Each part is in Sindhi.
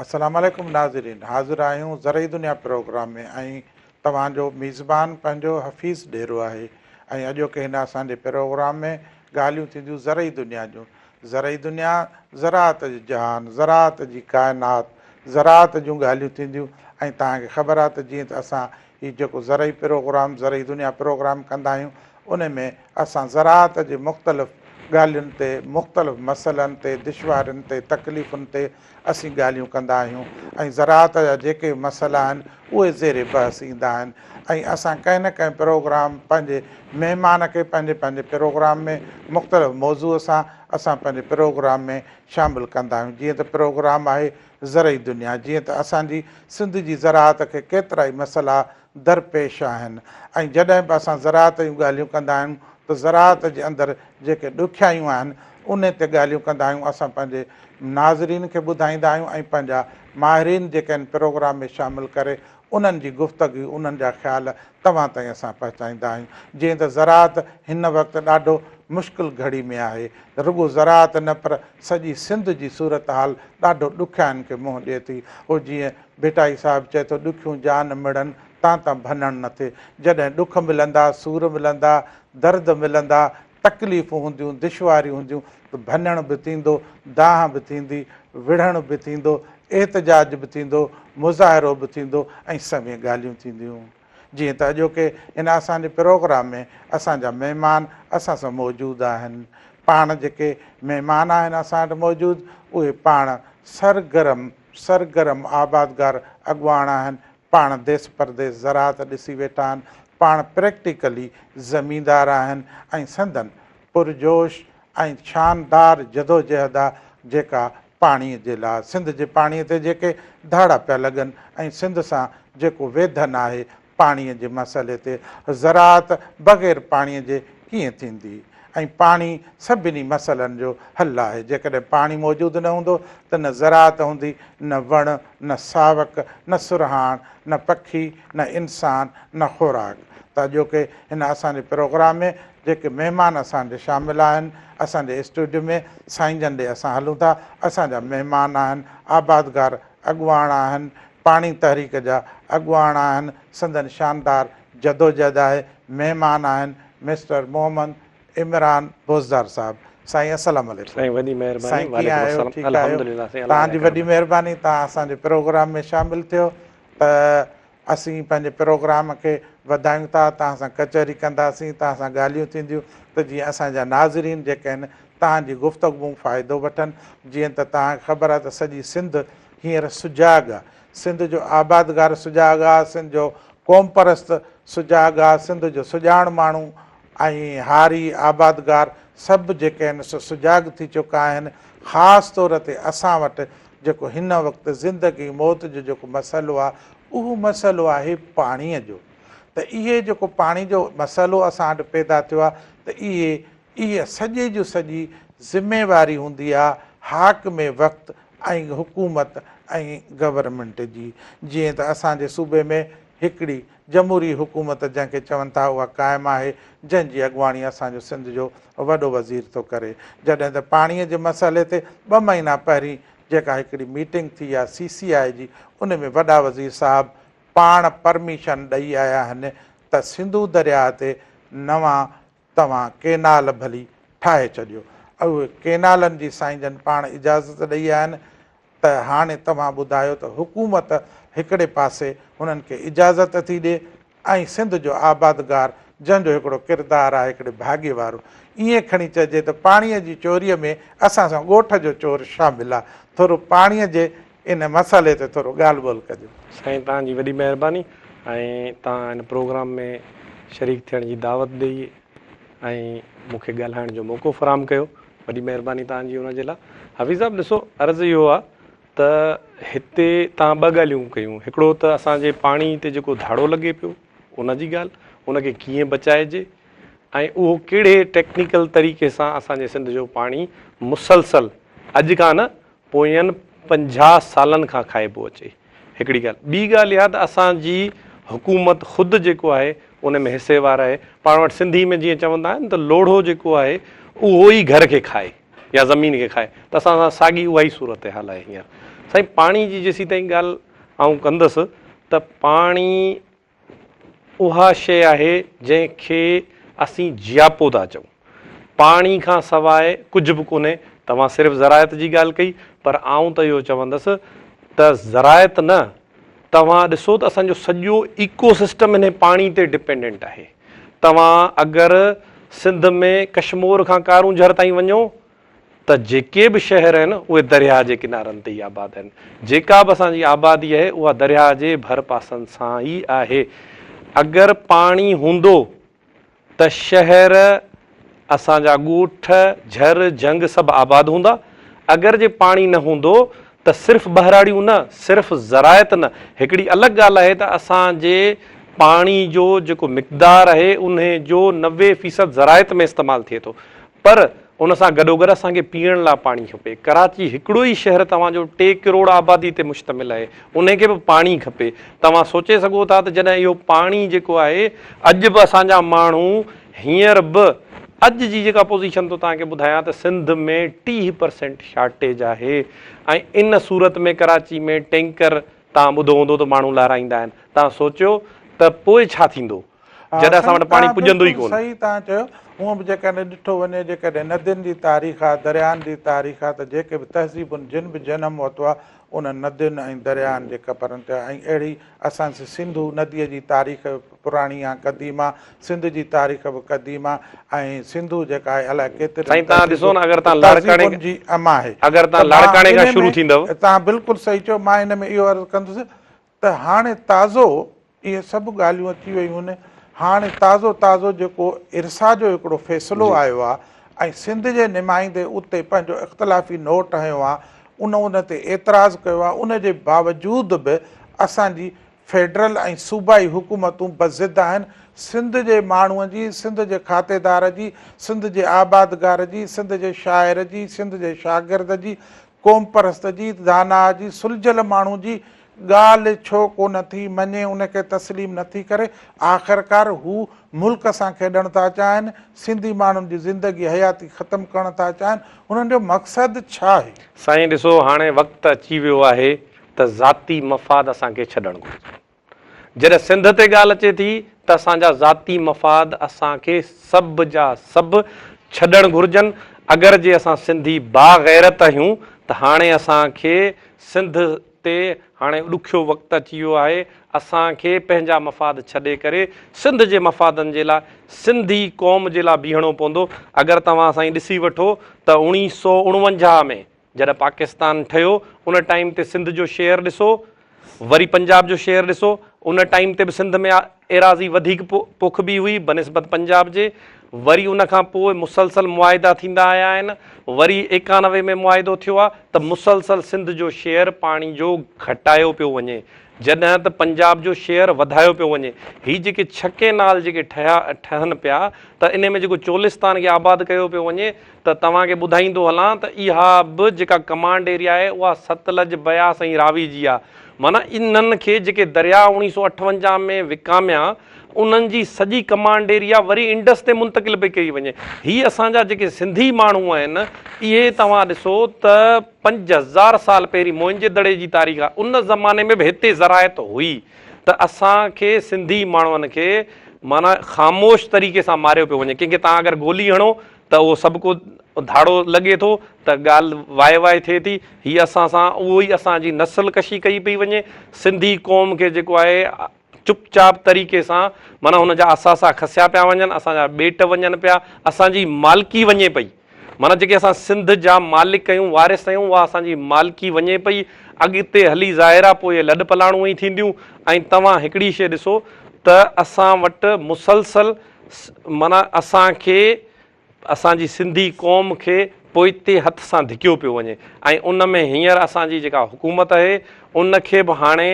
السلام عليڪم ناظرين حاضر آهيون زرعي دنيا پروگرام ۾ ۽ توهان جو ميزبان پنهنجو حفيظ ڏيرو آهي ۽ اڄوڪي هن اسان جي پروگرام ۾ ڳالهيون ٿينديون زرعي دنيا جون زرعي دنيا، زراعت جو جهان، زراعت جي ڪائنات، زراعت جون ڳالهيون ٿينديون ۽ توهان کي خبر آهي ته جيئن ته اسان هي جيڪو زرعي پروگرام زرعي دنيا پروگرام ڪندا آهيون ان ۾ اسان زراعت جي مختلف ڳالهين تي مختلف مسئلن تي دشوارين تي تڪليفن تي اسين ڳالهيون ڪندا آهيون ۽ زراعت جا جيڪي به مسئلا آهن اهي زير بحث ايندا آهن ۽ اسان ڪنهن نه ڪنهن پروگرام پنهنجي مهمان کي پنهنجي پنهنجي پروگرام ۾ مختلف موضوع سان اسان پنهنجي پروگرام ۾ شامل ڪندا آهيون جيئن ته پروگرام آهي زرعي دنيا جيئن ته اسان جي سنڌ جي زراعت کي ڪيترائي مسئلا درپيش آهن ۽ جڏهن به اسان زراعت جون ڳالهيون ڪندا آهيون ته زراعت جي اندر جيڪي ڏکيائيون آهن ان تي ڳالهيون ڪندا آهيون اسان پنهنجي ناظرين کي ٻڌائيندا آهيون ۽ پنهنجا ماهرين جيڪي ان پروگرام ۾ شامل ڪري انهن جي گفتگي انهن جا خيال توهان تائين اسان پهچائيندا آهيون جيئن ته زراعت هن وقت ڏاڍو مشڪل گهڙي ۾ آهي رڳو زراعت نه پر سڄي سنڌ جي صورتحال ڏاڍو ڏکيائين کي منهن ڏي ٿي اهو جيئن ڀٽائي صاحب چئي ٿو ڏکيون جان مڙن تان ته ڀنڻ نه ٿئي. جڏهن ڏک ملندا، سور ملندا، درد ملندا، تڪليفون هونديون، دشواريون هونديون ته ڀنڻ به ٿيندو، دانهن به ٿيندي، وڙهڻ به ٿيندو، احتجاج به ٿيندو، مظاهرو به ٿيندو ۽ سوين ڳالهيون ٿينديون. جيئن ته اڄوڪي هن اسان جي پروگرام ۾ اسان جا مهمان اسان سان موجود آهن. پاڻ جيڪي مهمان آهن اسان وٽ موجود اهي پاڻ سرگرم سرگرم آبادگار اڳواڻ آهن، پاڻ ديس پرديس زراعت ڏسي ويٺا آهن، پاڻ پريڪٽيڪلي زميندار آهن ۽ سندن پرجوش ۽ شاندار جدوجهد آ جيڪا پاڻيء جي لاء سنڌ جي پاڻيء تي جيڪي ڌاڙا پيا لڳن ۽ سنڌ سان جيڪو ويڌن آهي، پاڻيء جي مسئلي تي زراعت بغير پاڻيء جي ڪيئن ٿيندي ۽ پاڻي سڀني مسئلن جو حل آهي، جيڪڏهن پاڻي موجود نه هوندو ته نه زراعت هوندي، نه وڻ، نه ساوڪ، نه سرهاڻ، نه پکي، نه انسان، نه خوراڪ ته اڄوڪي هن اسان جي پروگرام ۾ جيڪي مهمان اسان جي شامل آهن اسان جي اسٽوڊيو ۾ سائين جن ڏي اسان هلون ٿا اسان جا مهمان آهن آبادگار اڳواڻ آهن پاڻي تحريڪ جا اڳواڻ آهن سندن شاندار جدوجهد آهي مهمان آهن مسٽر محمد عمران بوزدار صاحب سائين السلام عليڪم سائين وڏي مهرباني سائين ڪيئن وعليڪم آهيو السلام ٺيڪ آهيو الحمدلله سائين الله تهان جي جا وڏي ڪرم مهرباني تهان اسان جي پروگرام ۾ شامل ٿيو ته اسين پنهنجي پروگرام کي وڌايون ٿا، توهان سان ڪچهري ڪنداسين، توهان سان ڳالهيون ٿينديون ته جيئن اسان جا ناظرين جيڪي آهن توهان جي گفتگو مون فائدو وٺن، جيئن ته توهان کي خبر آهي ته سڄي سنڌ هينئر سجاڳ آهي، سنڌ جو آبادگار سجاڳ آهي، سنڌ جو قومپرست سجاڳ آهي، سنڌ جو سڄاڻ ماڻهو ۽ هاري آبادگار سڀ جيڪي آهن سو سجاڳ ٿي چڪا آهن، خاص طور تي اسان وٽ جيڪو هن وقت زندگي موت جو جيڪو مسئلو آهي اهو مسئلو آهي پاڻيء جو ته اهي جيڪو پاڻي جو مسئلو اسان وٽ پيدا ٿيو آهي ته اهي اهي سڄي جو سڄي ذميواري هوندي آهي حاڪم وقت ۽ حڪومت ۽ گورنمينٽ جي جيئن ته اسان جي صوبي ۾ هڪڙي جمهوري حڪومت جنهن کي چون ٿا اها قائم آهي جنهن جي اڳواڻي اسان جو سنڌ جو وڏو وزير ٿو ڪري جڏهن ته پاڻي جي مسئلي تي ٻه مهينا پهرين جيڪا هڪڙي ميٽنگ ٿي آهي سي سي آء جي ان ۾ وڏا وزير صاحب پاڻ پرميشن ڏئي آيا آهن ته سنڌو درياهه تي نوان توهان ڪينال ڀلي ٺاهي ڇڏيو. اهي ڪينالن جي سائين جن پاڻ اجازت ڏئي آهن ته هاڻي توهان ٻڌايو ته حڪومت هڪڙي پاسي هنن کي اجازت ٿي ڏي ۽ سنڌ جو آبادگار جنهن جو هڪڙو ڪردار آهي هڪڙي ڀاڳي وارو ائين کڻي چئجي ته پاڻيء جي چوريء ۾ اسان سان ڳوٺ جو چور شامل آهي ٿورو پاڻيء جي ان مسئلي تي ٿورو ڳالهه ٻولهه ڪجو. سائين توهان جي وڏي مهرباني ۽ توهان هن پروگرام ۾ شريڪ ٿيڻ جي دعوت ڏئي ۽ مون کي ڳالهائڻ جو موقعو فراهم ڪيو وڏي مهرباني توهان جي ان جي لاء حفيظ صاحب ڏسو عرض اهو آ ته هتي توهان ٻه ڳالهيون ڪيون هڪڙو ته اسان جي پاڻي تي جيڪو ڌاڙو لڳي پيو ان جي ڳالهه ان کي ڪيئن بچائجي ۽ اهو ڪهڙي ٽيڪنيڪل طريقي سان اسان جي سنڌ جو پاڻي مسلسل اڄ کان نه پوئين پنجاهه سالن کان کائبو اچي هڪڙي ڳالهه ٻي ڳالهه اها ته اسان جي حڪومت خود جيڪو آهي ان ۾ حصي وار آهي پاڻ وٽ سنڌي ۾ جيئن چوندا آهن ته لوڙهو جيڪو آهي اهو ئي گهر کي کائي يا زمين کي کائي ته اسان سان ساڳي اها ئي صورت حال آهي هينئر سائين پاڻي جي جيسين تائين ڳالهه آئون ڪندس ته پاڻي اها شيء آهي جنهن کي اسين جياپو ٿا چئون. پاڻي کان سواء ڪجهه به ڪونهي. توهان صرف زراعت جي ڳالهه ڪئي پر آئون ته اهو چوندس ته زراعت نه توهان ڏسو ته اسان جو سڄو ايڪو سسٽم انهي پاڻي تي ڊپينڊنٽ آهي. توهان اگر سنڌ ۾ ڪشمور کان ڪارونجهر تائين وڃو ته جيڪي به شهر آهن اهي درياهه جي ڪنارن تي ئي آباد آهن. جيڪا به اسان جي آبادي آهي اها درياهه جي ڀر پاسن سان ئي آهي. اگر پاڻي هوندو ته شهر، اسان جا ڳوٺ، جھر، جھنگ سڀ آباد هوندا. اگر جي پاڻي نه هوندو ته صرف ٻهراڙيون نه، صرف زراعت نه، هڪڙي الڳ ڳالهه آهي ته اسان جي پاڻي جو جيڪو مقدار آهي انهي جو نوي فيصد زراعت ۾ استعمال ٿئي ٿو. پر ان سان گڏوگڏ اسان کي پيئڻ لاء پاڻي کپي. ڪراچي هڪڙو ئي شهر توهان جو ٽي ڪروڙ آبادي تي مشتمل آهي، انهي کي به پاڻي کپي. توهان سوچي سگهو ٿا ته جڏهن اهو پاڻي جيڪو آهي اڄ به اسان جا ماڻهو هينئر به اڄ جي جيڪا پوزيشن ٿو توهان کي ٻڌايان ته سنڌ ۾ ٽيهه پرسينٽ شارٽيج آهي ۽ ان صورت ۾ ڪراچي ۾ ٽينڪر توهان ٻڌو هوندو ته ماڻهو لارائيندا آهن توهان سوچيو ته پوء ڇا ٿيندو؟ جڏهن اسان وٽ پاڻي پڄندو ئي ڪونه. صحيح تان چيو هونء به جيڪڏهن ڏٺو وڃي جيڪڏهن ندين جي تاريخ آ درياهن جي تاريخ آ ته جيڪي به تهذيبن جن به جنم ورتو آ انهن ندين ۽ درياهن جي ڪپرن تي آ ۽ اهڙي اسان جي سنڌو نديء جي تاريخ به پراڻي آ قديم آ سنڌ جي تاريخ به قديم آ ۽ سنڌو جيڪا آهي الائي ڪيترين تهذيبن جي ام آهي ته مان ان ۾ تان بلڪل صحيح چيو مان ان ۾ اهو عرض ڪندس ته هاڻي تازو اهي سڀ ڳالهيون اچي ويون آهن، هاڻي تازو تازو جيڪو ارسا جو هڪڙو فيصلو آيو آهي ۽ سنڌ جي نمائندي اتي پنهنجو اختلافي نوٽ هنيو آهي، ان ان تي اعتراض ڪيو آهي، ان جي باوجود به اسان جي فيڊرل ۽ صوبائي حڪومتون بضد آهن، سنڌ جي ماڻهو جي، سنڌ جي کاتيدار جي، سنڌ جي آبادگار جي، سنڌ جي شاعر جي، سنڌ جي شاگرد جي، قوم پرست جيت داناء جي سلجهيل ماڻهو جي ڳالهه ڇو ڪونه ٿي مڃي ان کي تسليم نه ٿي ڪري آخرڪار هو ملڪ سان کيڏڻ ٿا چاهن سنڌي ماڻهن جي زندگي حياتي ختم ڪرڻ ٿا چاهن هنن جو مقصد ڇا آهي. سائين ڏسو هاڻي وقت اچي ويو آهي ته ذاتي مفاد اسان کي ڇڏڻ گهرجي. جڏهن سنڌ تي ڳالهه اچي ٿي ته اسان جا ذاتي مفاد اسان کي سڀ جا سڀ ڇڏڻ گهرجن، اگر جي اسان سنڌي با غيرت اهيون ته هاڻي اسان کي سنڌ تي هاڻي ڏکيو وقت اچي ويو آهي، اسان کي پنهنجا مفاد ڇڏي ڪري سنڌ جي مفادن جي لاء سنڌي قوم جي لاء بيهڻو پوندو، اگر توهان سائين ڏسي وٺو ته اوڻيهه سؤ اڻونجاهه ۾ جڏهن پاڪستان ٺهيو ان ٽائيم تي سنڌ جو شيئر ڏسو وري پنجاب جو شيئر ڏسو ان ٽائيم تي به سنڌ ۾ ايراضي وڌيڪ پوکبي هئي بنسبت پنجاب جي وري ان کان پوء مسلسل معاهدا ٿيندا آيا آهن وري ايڪانوي ۾ معاهدو ٿيو آهي ته مسلسل سنڌ جو شيئر پاڻي جو گهٽايو پيو وڃي جڏهن ته پنجاب جو شيئر وڌايو پيو وڃي هي جيڪي ڇهه ڪينال جيڪي ٺهيا ٺهن پيا ته ان ۾ جيڪو چولستان کي آباد ڪيو پيو وڃي ته توهان کي ٻڌائيندو هلان ته اها به جيڪا ڪمانڊ ايريا آهي اها ستلج، بياس ۽ راوي جي آهي. معنيٰ انهن کي جيڪي درياء اوڻيهه سؤ اٺونجاهه ۾ وڪاميا انهن جي سڄي ڪمانڊ ايريا وري انڊس تي منتقل پئي ڪئي وڃي. هي اسان جا جيڪي سنڌي ماڻهو آهن اهي توهان ڏسو ته پنج هزار سال پهرين موئنجي دڙي جي تاريخ آهي ان زماني ۾ به هتي زراعت هئي ته اسان کي سنڌي ماڻهن کي معنيٰ خاموش طريقي سان ماريو پيو وڃي ڪنهن کي توهان اگر گولي هڻو ته اهو سڀڪو ڌاڙو لڳي ٿو ته ڳالهه واء واء ٿئي ٿي. هي اسان سان اهو ئي اسان جي نسل ڪشي ڪئي پئي وڃي. سنڌي قوم کي جيڪو آهي چپ چاپ طريقي سان معنيٰ هن جا اثاثا کسيا پيا وڃن، اسان جا ٻيٽ وڃن پيا، اسان جي مالڪي وڃي پئي. معنيٰ جيڪي اسان سنڌ جا مالڪ آهيون، وارث آهيون، اها اسان جي مالڪي وڃي پئي. اڳتي هلي ظاهر آهي پوء لڏ پلاڻون ئي ٿينديون ۽ توهان هڪڙي شيء ڏسو ته اسان وٽ مسلسل معنيٰ اسان کي اسان جي سنڌي قوم کي پوئتي هٿ سان ڌڪيو پيو وڃي ۽ ان ۾ هينئر اسان جي جيڪا حڪومت اهي ان کي به هاڻي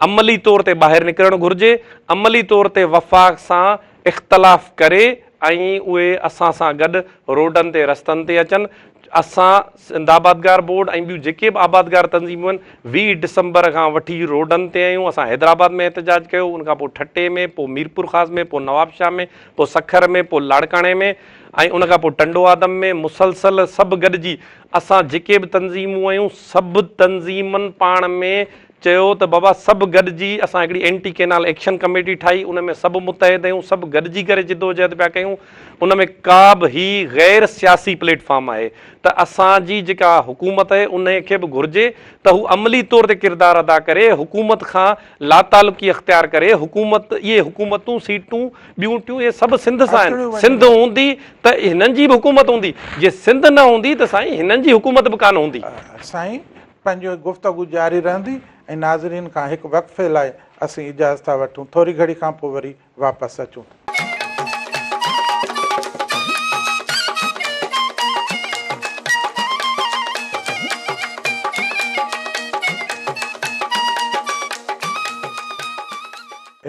عملي طور تي ٻاهر نڪرڻ گهرجي عملي طور تي وفاق سان اختلاف ڪري ۽ اهي اسان سان گڏ روڊن تي رستن تي اچن اسان سنڌ آبادگار بورڊ ۽ ٻيون جيڪي به آبادگار تنظيمون آهن ويهه ڊسمبر کان وٺي روڊن تي آهيون اسان حيدرآباد ۾ احتجاج ڪيو ان کان پوء ٺٽي ۾ پوء ميرپورخاص ۾ پوء نوابشاهه ۾ پوء سکر ۾ پوء لاڙڪاڻي ۾ ۽ ان کان پوء ٽنڊو آدم ۾ مسلسل سڀ گڏجي اسان جيڪي به تنظيمون آهيون سڀ تنظيمن پاڻ ۾ چيو ته بابا سڀ گڏجي اسان هڪڙي اينٽي ڪينال ايڪشن ڪميٽي ٺاهي ان ۾ سڀ متحد اهيون سڀ گڏجي ڪري جدوجهد پيا ڪيون ان ۾ ڪابه هي غير سياسي پليٽ فارم آهي ته اسان جي جيڪا حڪومت اهي انهي کي به گهرجي ته هو عملي طور تي ڪردار ادا ڪري حڪومت کان لاتعلقي اختيار ڪري حڪومت اهي حڪومتون سيٽون ٻيون ٽيون اهي سڀ سنڌ سان آهن سنڌ هوندي ته هنن جي به حڪومت هوندي جي سنڌ نه هوندي ته سائين هنن جي حڪومت به ڪانه هوندي. سائين پنهنجي گفتگو جاري رهندي ۽ ناظرين کان هڪ وقفي لاء اسين اجازت ٿا وٺون ٿوري گهڙي کان پوء وري واپس اچون ٿا.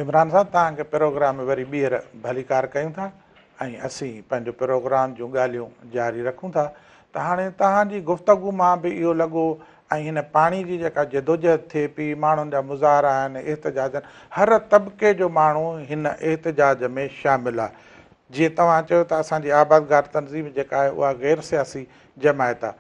عمران صاحب توهان کي پروگرام ۾ وري ٻيهر ڀليڪار ڪيون ٿا ۽ اسين پنهنجو پروگرام جون ڳالهيون جاري رکون ٿا ته هاڻي توهان جي گفتگو مان به اهو لڳو ۽ هن پاڻي جي جيڪا جدوجهد ٿئي پي، ماڻهن جا مظاهرا آهن، احتجاجن هر طبقي جو ماڻهو هن احتجاج ۾ شامل آ. جيئن توهان چيو ته اسان جي آبادگار تنظيم جيڪا آهي اها غير سياسي جماعت آ.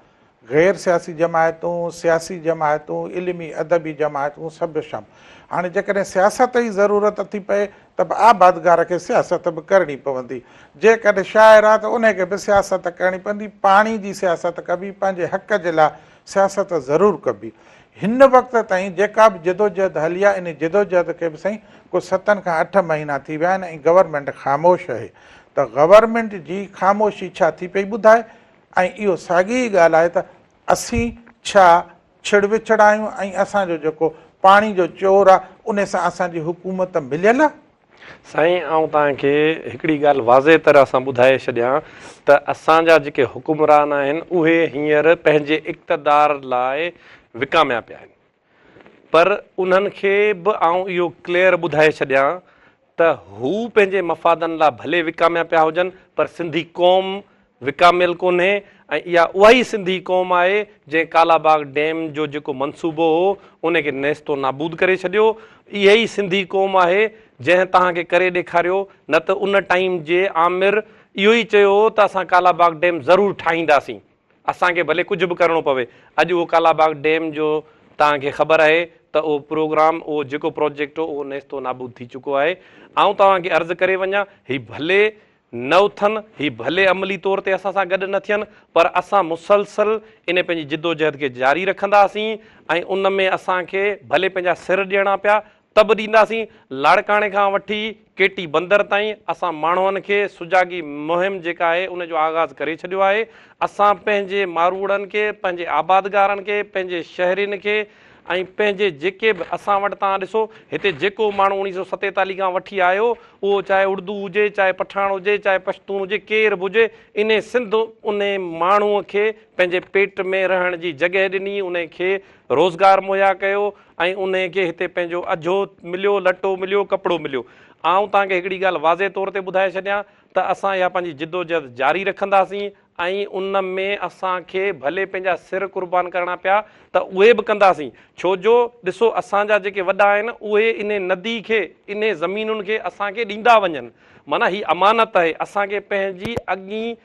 غير سياسي جماعتون، سياسي جماعتون، علمي ادبي جماعتون سڀ شام. هاڻي جيڪڏهن سياست ئي ضرورت ٿي پئي ته به آبادگار کي سياست به ڪرڻي پوندي، جيڪڏهن شاعر آهي ته انهي کي به سياست ڪرڻي پوندي، پاڻي جي سياست ڪبي، پنهنجي حق جي لاء سياست ضرور ڪبي. هن وقت تائين جيڪا به جدوجهد هلي آهي، انهي جدوجهد کي به سائين ڪو ستن کان اٺ مهينا ٿي ويا آهن ۽ گورنمينٽ خاموش اهي ته گورنمينٽ جي خاموشي ڇا ٿي پئي ٻڌائي ۽ اهو ساڳي ئي ڳالهه آهي ته اسين ڇا ڇڙ وڇڙ آهيون ۽ اسان جو جيڪو پاڻي جو چور آ ان سان اسان جي حڪومت مليل آ. سائين آئون توهان کي هڪڙي ڳالهه واضح طرح سان ٻڌائي ڇڏيان ته اسان جا جيڪي حڪمران آهن اهي هينئر پنهنجي اقتدار لاء وڪاميا پيا آهن پر انهن کي به آئون اهو ڪليئر ٻڌائي ڇڏيان ته هو پنهنجي مفادن لا ڀلي وڪاميا پيا هجن پر سنڌي قوم وڪاميل ڪونهي ۽ اها اها ئي سنڌي قوم آهي جنهن ڪالا باغ ڊيم جو جيڪو منصوبو هو ان کي نيست و نابود ڪري ڇڏيو اها ئي سنڌي قوم آهي جنهن توهان کي ڪري ڏيکاريو نه ته ان ٽائيم جي آمر اهو ئي چيو هو ته اسان ڪالا باغ ڊيم ضرور ٺاهينداسين اسان کي ڀلي ڪجهه به ڪرڻو پوي اڄ اهو ڪالاباغ ڊيم جو توهان کي خبر آهي ته اهو پروگرام اهو جيڪو پروجيڪٽ هو اهو نيست و نابود ٿي چڪو آهي آئون توهان کي عرض ڪري وڃان هي ڀلي نه اٿن هي ڀلي عملي طور تي اسان سان گڏ نه ٿين پر اسان مسلسل ان پنهنجي جدوجهد کي جاري رکنداسين ۽ ان ۾ اسان کي ڀلي پنهنجا سر ڏيڻا پيا ته به ڏينداسين، لاڙڪاڻي کان وٺي ڪي ٽي بندر تائين اسان ماڻهن کي سجاڳي مهم جيڪا آهي ان جو آغاز ڪري ڇڏيو آهي، اسان پنهنجي ماروئڙن کي، پنهنجي آبادگارن کي، پنهنجي شهرين کي ۽ پنهنجي جيڪي به اسان وٽ توهان ڏسو هتي جيڪو ماڻهو اڻيهه سؤ ستيتاليهه کان وٺي آيو اهو چاهي اڙدو هجي، چاهي پٺاڻ هجي، چاهي پشتون هجي، ڪير به هجي انهي سنڌ انهي ماڻهو کي پنهنجي پيٽ ۾ رهڻ جي جڳهه ڏني، انهي کي روزگار مهيا ڪيو، ۽ انهيء کي هتي پنهنجو اجهو مليو لٽو مليو ڪپڙو مليو. آئون توهان کي هڪڙي ڳالهه واضح طور تي ٻڌائي ڇڏيان ته اسان اها پنهنجي جدوجهد جاري رکنداسين ۽ ان ۾ اسان کي ڀلي پنهنجا سر قربان ڪرڻا پيا ته اهي به ڪنداسين ڇو جو ڏسو اسان جا جيڪي وڏا آهن اهي انهي ندي کي انهي زمينن کي اسان کي ڏيندا وڃن معنيٰ هي امانت آهي اسان کي پنهنجي اڳين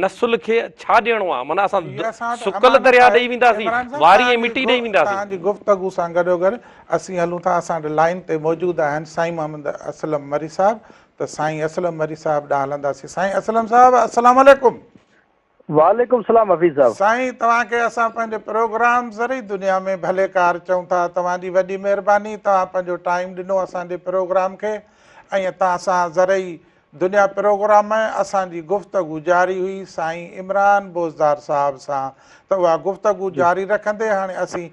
نسل کي ڇا ڏيڻو آهي معنيٰ اسان سڪل درياء ڏئي وينداسين واري ۽ مٽي ڏئي وينداسين. توهان جي گفتگو سان گڏوگڏ اسين هلون ٿا اسان وٽ لائين تي موجود آهن سائين محمد اسلم مري صاحب ته سائين اسلم مري صاحب ڏانهن هلنداسين سائين اسلم صاحب السلام عليڪم. وعليڪم سلام حفيظ صاحب. سائين توهان کي اسان پنهنجي پروگرام ذري دنيا ۾ ڀليڪار چئون ٿا توهان جي وڏي مهرباني توهان پنهنجو ٽائيم ڏنو اسان جي پروگرام کي ۽ توهان سان ذري دنيا پروگرام ۾ اسان جي گفتگو جاري هئي سائين عمران بوزدار صاحب سان ته اها گفتگو جي. جاري رکندي هاڻي اسين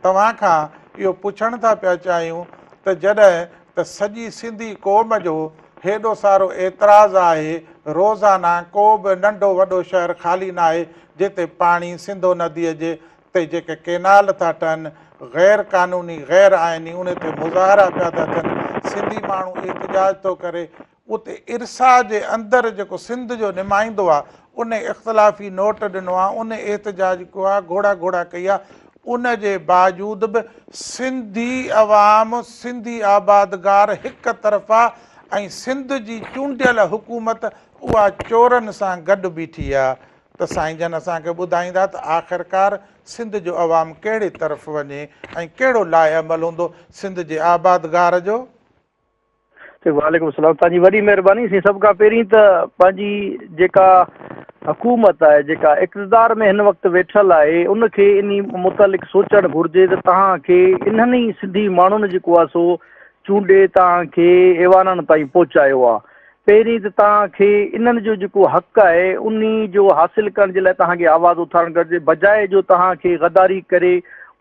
توهان کان اهو پڇڻ ٿا پيا چاهيون ته جڏهن ته سڄي سنڌي قوم جو هيڏو سارو اعتراض آهي روزانه ڪو به ننڍو وڏو شهر خالي ناهي جتي پاڻي سنڌو ندي جي تي جيڪي ڪينال ٿا ٺهن غير قانوني غير آئيني انهي تي مظاهرا پيا ٿا ٿين سنڌي ماڻهو احتجاج ٿو ڪري اتي ارسا جي اندر جيڪو سنڌ جو نمائندو آ ان اختلافي نوٽ ڏنو آ ان احتجاج ڪيو آ گهوڙا گهوڙا ڪئي آ ان جي باجود به سنڌي عوام سنڌي آبادگار هڪ طرفا ۽ سنڌ جي چونڊيل حڪومت اها چورن سان گڏ بيٺي آ ته سائين جن اسان کي ٻڌائيندا ته آخرڪار سنڌ جو عوام ڪهڙي طرف وڃي ۽ ڪهڙو لاء عمل هوندو سنڌ جي آبادگار جو وعليڪم السلام توهان جي وڏي مهرباني سائين سڀ کان پهرين ته پنهنجي جيڪا حڪومت آهي جيڪا اقتدار ۾ هن وقت ويٺل آهي ان کي ان متعلق سوچڻ گهرجي ته توهان کي انهن ئي سنڌي ماڻهن جيڪو آهي سو چونڊي توهان کي ايوانن تائين پهچايو آهي پهرين ته توهان کي انهن جو جيڪو حق آهي انهي جو حاصل ڪرڻ جي لاء توهان کي آواز اٿارڻ گهرجي بجاء جو توهان کي غداري ڪري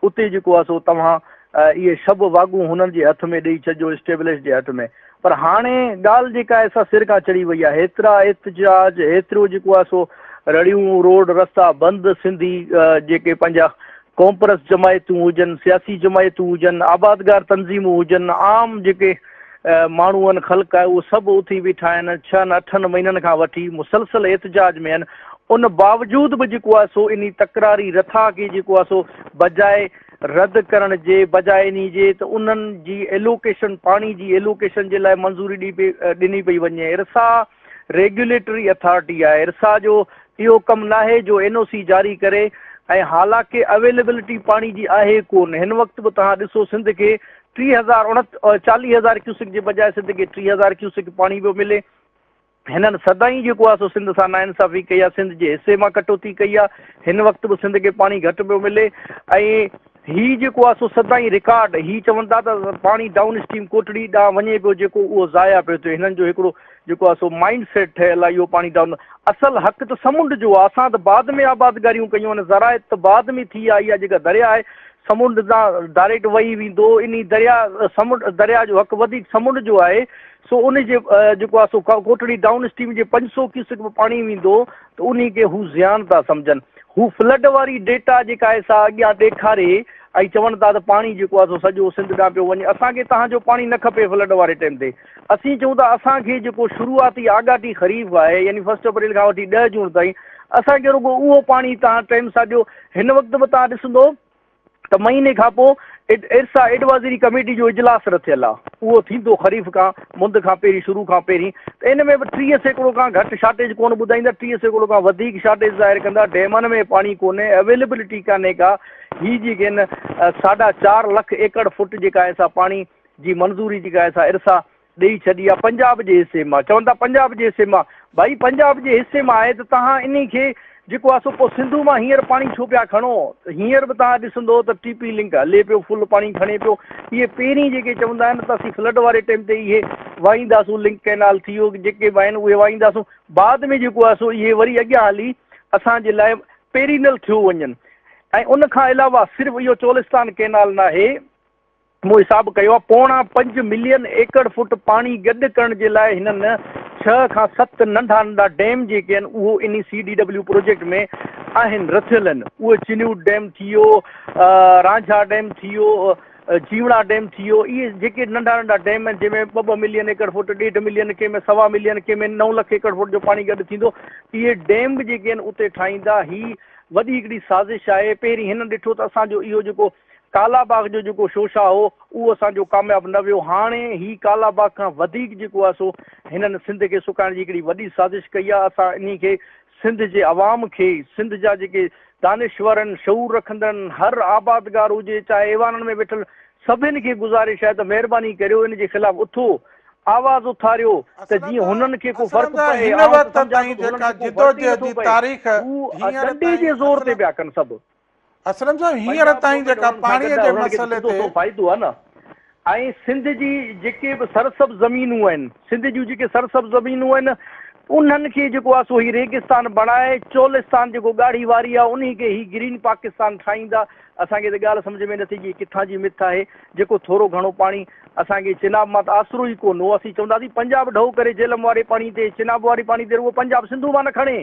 اتي جيڪو آهي سو توهان اهي شب واڳون هنن جي هٿ ۾ ڏئي ڇڏجو اسٽيبلش جي هٽ ۾ پر هاڻي ڳالهه جيڪا آهي سا سر کان چڙهي وئي آهي هيترا احتجاج هيترو جيڪو آهي سو رڙيون روڊ رستا بند سنڌي جيڪي پنهنجا قومپرست جماعتون هجن، سياسي جماعتون هجن، آبادگار تنظيمون هجن، عام جيڪي ماڻهو آهن، خلق آهي، اهو سڀ اٿي بيٺا آهن، ڇهن اٺن مهينن کان وٺي مسلسل احتجاج ۾ آهن، ان باوجود به جيڪو آهي سو انهي تڪراري رٿا کي جيڪو آهي سو بجاء رد ڪرڻ جي، بجاء انهي جي ته انهن جي ايلوڪيشن، پاڻي جي ايلوڪيشن جي لاء منظوري ڏني پئي وڃي، ارسا. ريگيوليٽري اٿارٽي آء ارسا جو اهو ڪم ناهي جو اين او سي جاري ڪري ۽ حالانڪ اويليبلٽي پاڻي جي آهي ڪون هن وقت به توهان ڏسو سنڌ کي ٽي هزار اڻت چاليهه هزار ڪيوسڪ جي بجاء سنڌ کي ٽي هزار ڪيوسڪ پاڻي پيو ملي هنن سدائين جيڪو آهي سو سنڌ سان ناانصافي ڪئي آهي سنڌ جي حصي مان ڪٽوتي ڪئي آهي هن وقت به سنڌ کي پاڻي گهٽ پيو ملي ۽ هي جيڪو آهي سو سدائين رڪارڊ هي چون ٿا ته پاڻي ڊائون اسٽريم ڪوٽڙي ڏانهن وڃي پيو جيڪو اهو ضايع پيو ٿئي هنن جو هڪڙو جيڪو آهي سو مائنڊ سيٽ ٺهيل آهي اهو پاڻي ڊائون اصل حق ته سمنڊ جو آهي اسان ته بعد ۾ آبادگاريون ڪيون آهن زراعت ته بعد ۾ ٿي آهي اها جيڪا درياء آهي سمنڊ تان ڊائريڪٽ وهي ويندو انهي درياء سمنڊ درياء جو حق وڌيڪ سمنڊ جو آهي سو ان جي جيڪو آهي سو ڪوٽڙي ڊائون اسٽريم جي پنج سؤ ڪيوسڪ به پاڻي ويندو ته انهي کي هو زيان ٿا سمجهن. هو فلڊ واري ڊيٽا جيڪا آهي سا اڳيان ڏيکاري ۽ چون ٿا ته پاڻي جيڪو آهي سو سڄو سنڌ ڏانهن پيو وڃي. اسان کي توهان جو پاڻي نه کپي فلڊ واري ٽيم تي. اسين چئون ٿا اسان کي جيڪو شروعاتي آڳاٽي خريف آهي يعني فرسٽ اپريل کان وٺي ڏهه جون تائين اسان کي رڳو اهو پاڻي توهان ٽيم سان ڏيو. هن وقت به توهان ڏسندو ته مهيني کان پوء ارسا ايڊوازري ڪميٽي جو اجلاس رٿيل آ اهو ٿيندو خريف کان مند کان پهرين شروع کان پهرين ته ان ۾ به ٽيهه سيڪڙو کان گهٽ شارٽيج ڪونه ٻڌائيندا ٽيهه سيڪڙو کان وڌيڪ شارٽيج ظاهر ڪندا ڊيمن ۾ پاڻي ڪونهي اويلبلٽي ڪانهي ڪا هي جيڪي ان ساڍا چار لک ايڪڙ فوٽ جيڪا اسا پاڻي جي منظوري جيڪا اسا ارسا ڏئي ڇڏي آ پنجاب جي حصي مان چون ٿا پنجاب جي حصي مان ڀائي پنجاب جي حصي مان آهي ته تهان انهي کي جيڪو آ سو پو سنڌو مان هينئر پاڻي ڇو پيا کڻو ته هينئر به تهان ڏسندو ته ٽي پي لنڪ هلي پيو فل پاڻي کڻي پيو اهي پهرين جيڪي چوندا آهن ته اسين فلڊ واري ٽيم تي اهي وائينداسون لنڪ ڪينال ٿي ويو جيڪي به آهن اهي وائينداسون بعد ۾ جيڪو آ سو اهي وري اڳيان هلي اسان جي لاء پيرينل ٿيو وڃن ۽ ان کان علاوه صرف اهو چولستان ڪينال ناهي مون حساب ڪيو آهي پوڻا پنج ملين ايڪڙ فوٽ پاڻي گڏ ڪرڻ جي لاء هنن ڇهه کان ست ننڍا ننڍا ڊيم جيڪي آهن اهو انهي سي ڊي ڊبليو پروجيڪٽ ۾ آهن رٿيل آهن اهي چنيوٽ ڊيم ٿي ويو رانجها ڊيم ٿي ويو جيوڻا ڊيم ٿي ويو اهي جيڪي ننڍا ننڍا ڊيم آهن جنهن ۾ ٻه ٻه ملين ايڪڙ فوٽ ڏيڍ ملين ڪنهن ۾ سوا ملين ڪنهن ۾ نو لک ايڪڙ فوٽ جو پاڻي گڏ ٿيندو اهي ڊيم به جيڪي آهن اتي ٺاهيندا هي وڏي هڪڙي سازش آهي پهرين هنن ڏٺو ته اسان جو اهو جيڪو ڪالا باغ جو جيڪو شوشا هو اهو اسان جو ڪامياب نه ويو هاڻي هي ڪالا باغ کان وڌيڪ جيڪو آهي سو هنن سنڌ کي سڪائڻ جي هڪڙي وڏي سازش ڪئي آهي اسان انهي کي سنڌ جي عوام کي سنڌ جا جيڪي دانشورن شعور رکندڙن هر آبادگار هجي چاهي ايوانن ۾ ويٺل سڀن کي گذارش آهي ته مهرباني ڪريو ان جي خلاف اٿو آواز اٿاريو ته جيئن هنن کي ڪو فرق پئي آئون ته سمجهان ٿو ته هنن کي ڪو فرق ئي نٿو پئي هو ڏنڊي جي زور تي پيا ڪن سڀ. اسلم صاحب هينئر تائين جيڪا پاڻي جي مسئلي تي فائدو آهي نه ۽ سنڌ جي جيڪي به سرسبز زمينون آهن سنڌ جون جيڪي سرسبز زمينون آهن انهن کي جيڪو آهي سو هي ريگستان بڻائي چولستان جيڪو ڳاڙهي واري آهي انهي کي هي گرين پاڪستان ٺاهيندا اسان کي ته ڳالهه سمجهه ۾ نه ٿي اچي ڪٿان جي مٿ آهي جيڪو ٿورو گهڻو پاڻي اسان کي چناب مان ته آسرو ئي ڪونه هو اسين چونداسين پنجاب ڍؤ ڪري جهلم واري پاڻي تي چناب واري پاڻي تي رڳو پنجاب سنڌو مان نه کڻي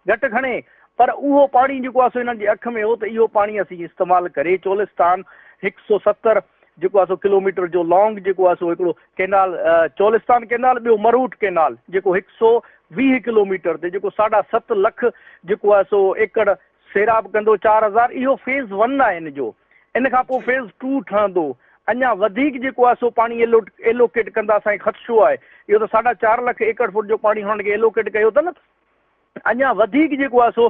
گهٽ کڻي، پر اهو پاڻي جيڪو آهي سو انهن جي اک ۾ هو ته اهو پاڻي اسين استعمال ڪري چولستان هڪ سؤ ستر جيڪو آهي سو ڪلوميٽر جو لانگ جيڪو آهي سو هڪڙو ڪئنال چولستان ڪئنال ٻيو مروٽ ڪئنال جيڪو هڪ سؤ ويهه ڪلوميٽر تي جيڪو ساڍا ست لک جيڪو آهي سو ايڪڙ سيراب ڪندو چار هزار اهو فيز ون آهي ان جو ان کان پوء فيز ٽو ٺهندو اڃا وڌيڪ جيڪو آهي سو پاڻي ايلوڪيٽ ڪندا اسان کي خدشو آهي اهو ته ساڍا چار لک ايڪڙ فوٽ جو پاڻي هنن کي ايلوڪيٽ ڪيو اٿن اڃا وڌيڪ جيڪو آهي سو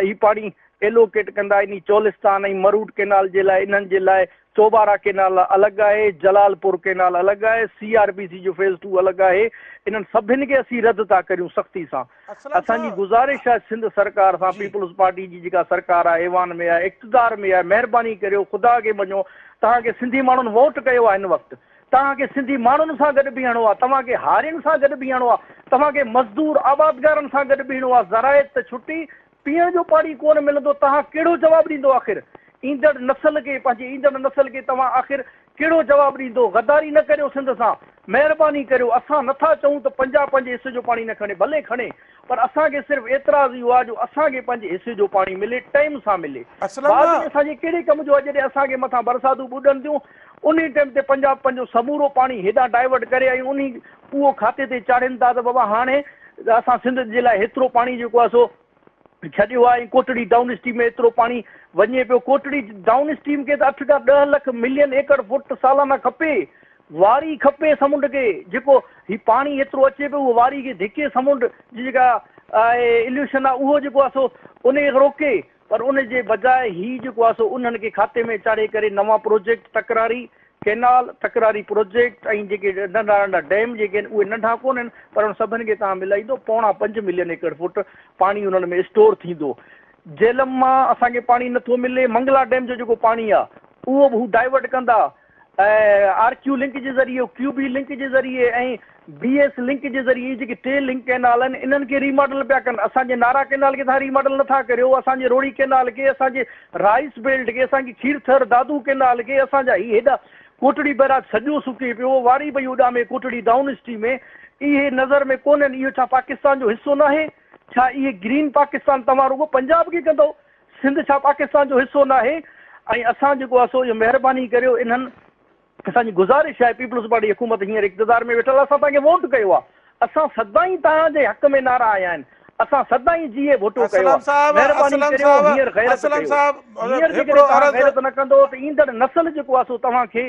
هي پاڻي ايلوڪيٽ ڪندا يعني چولستان ۽ مروٽ ڪينال جي لاء انهن جي لاء چوبارا ڪينال الڳ آهي جلال پور ڪينال الڳ آهي سي آر بي سي جو فيز ٽو الڳ آهي انهن سڀن کي اسين رد ٿا ڪريون سختي سان اسان جي گذارش آهي سنڌ سرڪار سان پيپلز پارٽي جي جيڪا سرڪار آهي ايوان ۾ آهي اقتدار ۾ آهي مهرباني ڪريو خدا کي مڃو توهان کي سنڌي ماڻهن ووٽ ڪيو آهي هن وقت توهان کي سنڌي ماڻهن سان گڏ بيهڻو آهي، توهان کي هارين سان گڏ بيهڻو آهي، توهان کي مزدور آبادگارن سان گڏ بيهڻو آهي، زراعت ته ڇٽي، پيئڻ جو پاڻي ڪونه ملندو، توهان ڪهڙو جواب ڏيندو آخر ايندڙ نسل کي، پنهنجي ايندڙ نسل کي توهان آخر ڪهڙو جواب ڏيندو، غداري نه ڪريو سنڌ سان، مهرباني ڪريو، اسان نٿا چئون ته پنجاب پنهنجي حصي جو پاڻي نه کڻي، ڀلي کڻي، پر اسان کي صرف اعتراض اهو آهي جو اسان کي پنهنجي حصي جو پاڻي ملي ٽئم سان ملي بعد ۾ اسان جي ڪهڙي ڪم جو آهي جڏهن اسان کي مٿان برساتون ٻڏن ٿيون انهي ٽئم تي پنجاب پنهنجو سمورو پاڻي هيڏانهن ڊائيورٽ ڪري ۽ انهي اهو کاتي تي چاڙهين ٿا ته بابا هاڻي اسان سنڌ جي لاء هيترو پاڻي جيڪو آهي سو ڇڏيو آهي ۽ ڪوٽڙي ڊائون اسٽريم ۾ ايترو پاڻي وڃي پيو ڪوٽڙي ڊائون اسٽريم کي ته اٺ کان ڏهه لک ملين ايڪڙ فوٽ سالانه کپي واري کپي سمنڊ کي جيڪو هي پاڻي ايترو اچي پيو اهو واري کي ڌڪي سمنڊ جي جيڪا آهي اليوشن آهي اهو جيڪو آهي سو ان کي روڪي پر ان جي بجاء هي جيڪو آهي سو انهن کي کاتي ۾ چاڙهي ڪري نوان پروجيڪٽ تڪراري ڪينال تڪراري پروجيڪٽ ۽ جيڪي ننڍا ننڍا ڊيم جيڪي آهن اهي ننڍا ڪونهن پر انهن سڀن کي توهان ملائيندو پوڻا پنج ملين ايڪڙ فوٽ پاڻي انهن ۾ اسٽور ٿيندو جهلم مان اسان کي پاڻي نٿو ملي منگلا ڊيم جو جيڪو پاڻي آهي اهو به هو ڊائيورٽ ڪندا آر ڪيو لنڪ جي ذريعي، ڪيو بي لنڪ جي ذريعي ۽ بي ايس لنڪ جي ذريعي اهي جيڪي ٽي لنڪ ڪئنال آهن انهن کي ري ماڊل پيا ڪن اسان جي نارا ڪئنال کي توهان ري ماڊل نٿا ڪريو اسان جي روهڙي ڪئنال کي اسان جي رائيس بيلٽ کي اسان جي کير ٿر دادو ڪئنال کي اسان جا هي هيڏا ڪوٽڙي بئراج سڄو سڪي پيو واري پئي اڏامي ڪوٽڙي ڊائون اسٽريم اهي نظر ۾ ڪونهن اهو ڇا پاڪستان جو حصو ناهي ڇا اهي گرين پاڪستان توهان رڳو پنجاب کي ڪندو سنڌ ڇا پاڪستان جو حصو ناهي ۽ اسان جيڪو آهي سو اهو مهرباني ڪريو انهن اسان جي گذارش آهي پيپلز پارٽي حڪومت هينئر اقتدار ۾ ويٺل آهي اسان توهان کي ووٽ ڪيو آهي اسان سدائين توهان جي حق ۾ نعرا هنيا آهن اسان سدائين جي اي ڀٽو ڪيو آهي مهرباني ڪريو هينئر غيرت ڪيو هينئر جيڪڏهن توهان غيرت نه ڪندو ته ايندڙ نسل جيڪو آهي سو توهان کي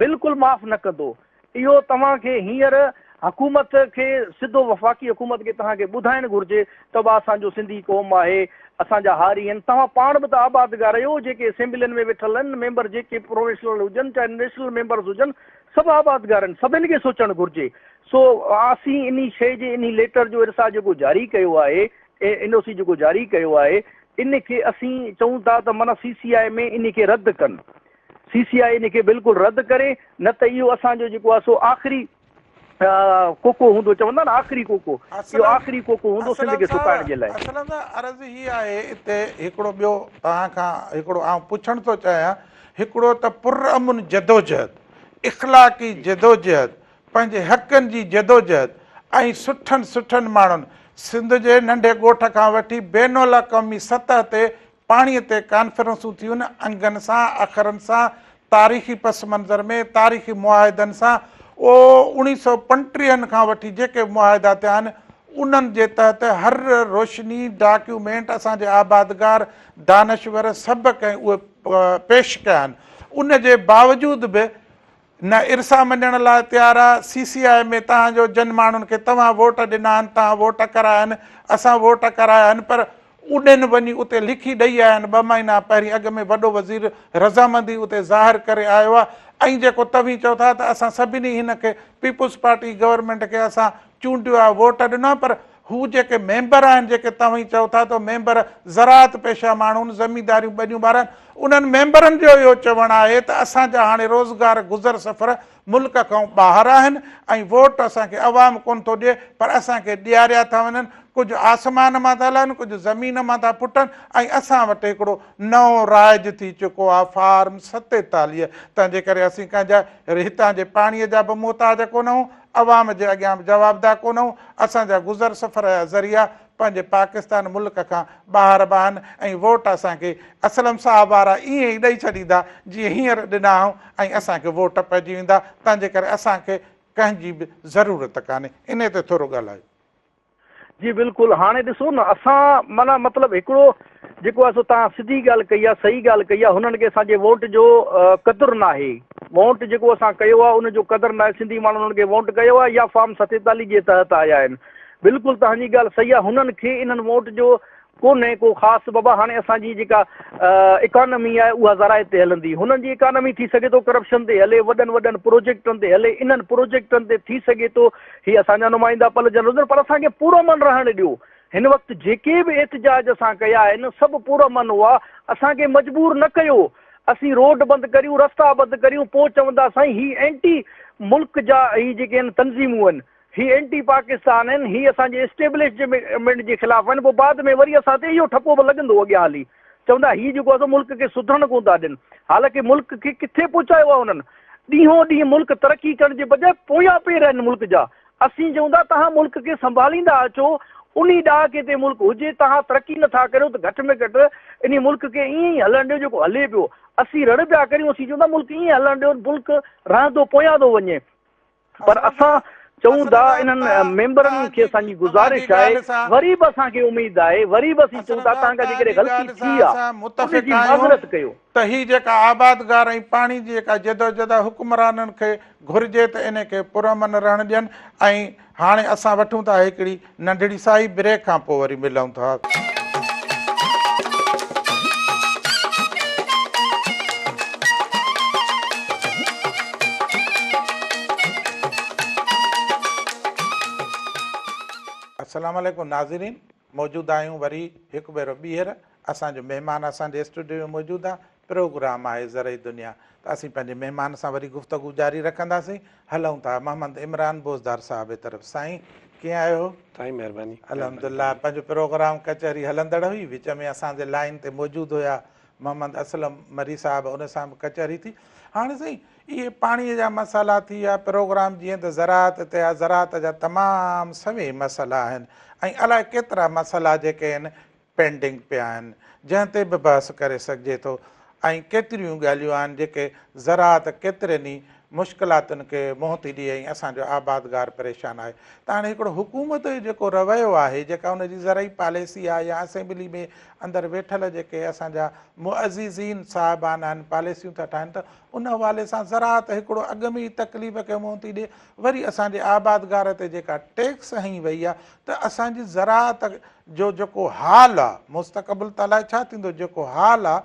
بلڪل معاف نه ڪندو اهو توهان کي هينئر حڪومت کي سڌو وفاقي حڪومت کي توهان کي ٻڌائڻ گهرجي ته به اسان جو سنڌي قوم آهي اسان جا هاري آهن توهان پاڻ به ته آبادگار اهو جيڪي اسيمبلين ۾ ويٺل آهن ميمبر جيڪي پروفيشنل هجن چاهي نيشنل ميمبرز هجن سڀ آبادگار آهن سڀن کي سوچڻ گهرجي سو اسين انهي شئي جي انهي ليٽر جو ارسا جيڪو جاري ڪيو آهي اين او سي جيڪو جاري ڪيو آهي ان کي اسين چئون ٿا ته معنيٰ سي سي آء ۾ انهي کي رد ڪن سي سي آء ان کي بلڪل رد ڪري نه ته اهو اسان جو جيڪو آهي سو آخري ڪوڪو هوندو چوندا آهن آخري ڪوڪو اهو آخري ڪوڪو هوندو سنڌ کي سڪائڻ جي لاء. اسلم صاحب عرض هي آهي اتي هڪڙو ٻيو توهان کان هڪڙو آئون پڇڻ ٿو چاهيان هڪڙو ته پر امن جدوجهد اخلاقي جدوجهد پنهنجي حقن جي جدوجهد ۽ سٺن سٺن ماڻهن سنڌ جي ننڍي ڳوٺ کان وٺي بين الاقوامي سطح تي پاڻي تي ڪانفرنسون ٿيون، انگن سان، اکرن سان، تاريخي پس منظر ۾، تاريخي معاهدن سان، او اوڻي سؤ پنٽيهن کان وٺي جيڪي به معاهدا ٿيا آهن، انهن جي تحت هر روشني، ڊاڪيومينٽ، اسان جي آبادگار، دانشور، سڀ ڪنهن اهي پيش ڪيا آهن. ان جي باوجود به. نه ارسا مڃڻ لاء تيار آ، سي سي آء ۾ تهان جو جن ماڻهن کي توهان ووٽ ڏنا آهن تهان ووٽ ڪرايا آهن اسان ووٽ ڪرايا آهن پر اڏن وڃي اتي لکي ڏئي آيا آهن ٻه مهينا پهرين اڳ ۾ وڏو وزير رضامندي اتي ظاهر ڪري آيو آ ۽ جيڪو توهين چئو ٿا ته اسان سڀني هن کي پيپلز پارٽي گورنمينٽ کي اسان چونڊيو آهي ووٽ ڏنا پر هو جيڪي ميمبر آهن جيڪي توهين چئو ٿا ته ميمبر زراعت پيشه ماڻهون زمينداريون ٻنيون ٻارن انهن ميمبرن جو اهو چوڻ آهي ته اسان جا هاڻي روزگار گذر سفر ملڪ کان ٻاهر آهن ۽ ووٽ اسان کي عوام ڪونه ٿو ڏئي پر اسان کي ڏياريا ٿا وڃن ڪجهه آسمان مان ٿا لهن ڪجهه زمين مان ٿا ڦٽن ۽ اسان وٽ هڪڙو نئون رائج ٿي چڪو آهي فارم ستيتاليهه تنهن جي ڪري اسين ڪنهن جا هتان جي پاڻي جا به محتاج ڪونه آهون عوام جي اڳيان به جوابده ڪونهون، اسان جا گذر سفر جا ذريعا پنهنجي پاڪستان ملڪ کان ٻاهر به آهن ۽ ووٽ اسان کي اسلم صاحب وارا ائين ئي ڏئي ڇڏيندا جيئن هينئر ڏنا آهون ۽ اسان کي ووٽ پئجي ويندا تنهنجي ڪري اسان کي ڪنهن جي به ضرورت ڪانهي انهي تي ٿورو ڳالهايو. جي بلڪل هاڻي ڏسو نه اسان معنيٰ مطلب هڪڙو جيڪو آهي سو تهان سڌي ڳالهه ڪئي آهي صحيح ڳالهه ڪئي آهي هنن کي اسان جي ووٽ جو قدر ناهي ووٽ جيڪو اسان ڪيو آهي ان جو قدر ناهي سنڌي ماڻهن هنن کي ووٽ ڪيو آهي يا فارم ستيتاليهه جي تحت آيا آهن بلڪل تهان جي ڳالهه صحيح آهي هنن کي انهن ووٽ جو ڪونهي ڪو خاص بابا هاڻي اسان جي جيڪا اڪانمي آهي اها زراعت تي هلندي هنن جي اڪانمي ٿي سگهي ٿو ڪرپشن تي هلي وڏن وڏن پروجيڪٽن تي هلي انهن پروجيڪٽن تي ٿي سگهي ٿو هي اسان جا نمائندا پلجن رڌن پر اسان کي پرامن رهڻ ڏيو هن وقت جيڪي به احتجاج اسان ڪيا آهن سڀ پرامن هئا اسان کي مجبور نه ڪيو اسين روڊ بند ڪريون رستا بند ڪريون پوء چوندا سائين هي اينٽي ملڪ جا هي جيڪي آهن تنظيمون آهن هي اينٽي پاڪستان آهن، هي اسان جي اسٽيبلشمينٽ جي خلاف آهن، پوء بعد ۾ وري اسان تي اهو ٺپو به لڳندو اڳيان هلي، چوندا هي جيڪو آهي سو ملڪ کي سڌرڻ ڪونه ٿا ڏين، حالانڪه ملڪ کي ڪٿي پهچايو آهي هنن، ڏينهون ڏينهن ملڪ ترقي ڪرڻ جي بجاء پويان پير آهن ملڪ جا، اسين چئون ٿا توهان ملڪ کي سنڀاليندا اچو، انهي ڏهاڪي تي ملڪ هجي، توهان ترقي نه ٿا ڪريو ته گهٽ ۾ گهٽ انهي ملڪ کي ائين ئي هلڻ ڏيو جيڪو هلي پيو، اسين رڙ پيا ڪريون، اسين چئون ٿا ملڪ ائين هلڻ ڏيو، ملڪ رهندو پويان ٿو وڃي، پر اسان چئون ٿا انهن ميمبرن کي اسان جي گذارش آهي وري به اسان کي اميد آهي وري به اسين چئون ٿا توهان کان جيڪڏهن غلطي ٿي آهي ان جي معذرت ڪيو. ته هي جيڪا آبادگار ۽ پاڻي جي جيڪا جدوجھد آهي حڪمرانن کي گھرجي ته ان کي پرامن رهڻ ڏين ۽ هاڻي اسان وٺون ٿا هڪڙي ننڍڙي سائي بريڪ کان پوء وري ملون ٿا. السلام عليڪم ناظرين موجود آهيون وري هڪ ڀيرو ٻيهر اسان جو مهمان اسان جي اسٽوڊيو ۾ موجود آهي پروگرام آهي زرعي دنيا ته اسين پنهنجي مهمان سان وري گفتگو جاري رکنداسين هلئون ٿا محمد عمران بوزدار صاحب جي طرف سائين ڪيئن آهيو؟ سائين مهرباني. الحمد الله پنهنجو پروگرام ڪچهري هلندڙ هئي وچ ۾ اسان جي لائين تي موجود هيا محمد اسلم مري صاحب ان سان به ڪچهري ٿي هاڻي سائين اهي پاڻي جا مسئلا ٿي ويا پروگرام جيئن ته زراعت تي آهي زراعت جا تمام سوين مسئلا آهن ۽ الاء ڪيترا مسئلا جيڪي آهن پينڊنگ پيا آهن جنهن تي به بحث ڪري سگهجي ٿو ۽ ڪيتريون گالهيون آهن جيڪي زراعت ڪيترين ئي مشڪلاتن کي منهن ٿي ڏئي ۽ اسان جو آبادگار پريشان آهي ته هاڻي هڪڙو حڪومت جو جيڪو رويو آهي جيڪا ان جي زرعي پاليسي آهي يا اسيمبلي ۾ اندر ويٺل جيڪي اسان جا معززين صاحبان آهن پاليسيون ٿا ٺاهن ته ان حوالي سان زراعت هڪڙو اڳ ۾ ئي تڪليف کي منهن ٿي ڏئي وري اسان جي آبادگار تي جيڪا ٽيڪس هنئي وئي آهي ته اسان جي زراعت جو جيڪو حال آ مستقبل ته الائي ڇا ٿيندو جيڪو حال آ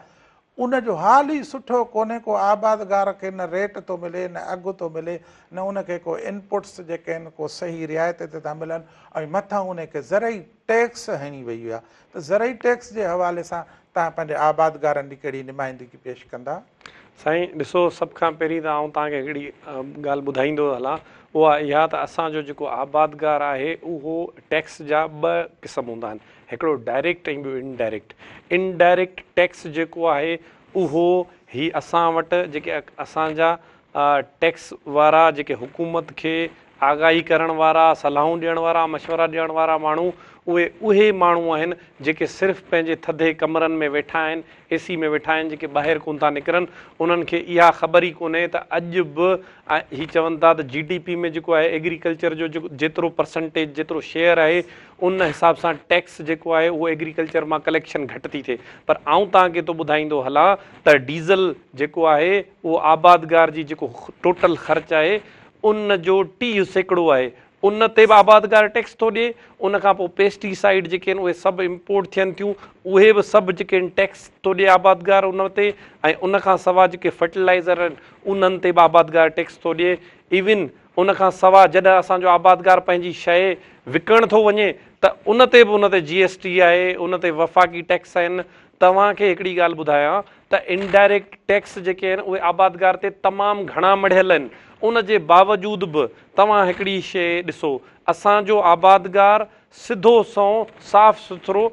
ان جو حال ئي سٺو ڪونهي ڪو آبادگار کي نه ريٽ ٿو ملي نه اگهه ٿو ملي نه ان کي ڪو انپوٽس جيڪي آهن ڪو صحيح رعايت تي ٿا ملن ۽ مٿان ان کي زرعي ٽيڪس هڻي ويئي آ ته زرعي ٽيڪس جي حوالي سان توهان پنهنجي آبادگارن ڏي ڪهڙي نمائندگي پيش ڪندا؟ سائين ڏسو سڀ کان پهرين ته آئون توهان کي هڪڙي ڳالهه ٻڌائيندو هلان اها اها ته اسان جو جيڪو آبادگار آهي اهو ٽيڪس جا ٻه قسم هوندا آهن هڪڙو ڊائريڪٽ ۽ ٻيو indirect indirect tax جيڪو آهي اهو هي اسان وٽ جيڪي اسان جا ٽيڪس وارا جيڪي حڪومت کي آگاهي ڪرڻ وارا، صلاحون ڏيڻ وارا، مشورا ڏيڻ وارا ماڻهو اهي اهي ماڻهو آهن جيڪي صرف پنهنجي ٿڌي ڪمرن ۾ ويٺا آهن، اي سي ۾ ويٺا آهن جيڪي ٻاهر ڪونه ٿا نڪرن انهن کي اها خبر ئي ڪونهي ته اڄ به هي چون ٿا ته جي ڊي پي ۾ جيڪو آهي ايگريڪلچر جو جيترو پرسنٽيج جيترو شيئر آهي ان حساب سان ٽيڪس جيڪو آهي اهو ايگريڪلچر مان ڪليڪشن گهٽ ٿي ٿئي پر آئون توهان کي ٿو ٻڌائيندو هلان ته ڊيزل جيڪو آهي اهو آبادگار جي جيڪو ٽوٽل خرچ آهي ان جو ٽيهه سيڪڙو آهي ان تي به آبادگار ٽيڪس ٿو ڏي ان کان پوء پيسٽي سائيڊ جيڪي آهن اهي سڀ امپورٽ ٿين ٿيون اهي به سڀ جيڪي آهن ٽيڪس ٿو ڏي آبادگار ان تي ۽ ان کان سوا جيڪي فرٽيلائزر آهن انهن تي به آبادگار ٽيڪس ٿو ڏي ايون ان کان سوا جڏهن اسان جو آبادگار پنهنجي شيء وڪڻڻ ٿو وڃي ته ان تي به ان تي جي ايس ٽي آهي ان تي وفاقي ٽيڪس آهن توهان کي هڪڙي ڳالهه ٻڌايان ته انڊائريڪٽ ٽيڪس جيڪي آهن اهي آبادگار تي تمام گهڻا مڙهيل آهن ان جي باوجود به توهان هڪڙي شيء ڏسو اسان جو آبادگار سڌو سنئون صاف سٿرو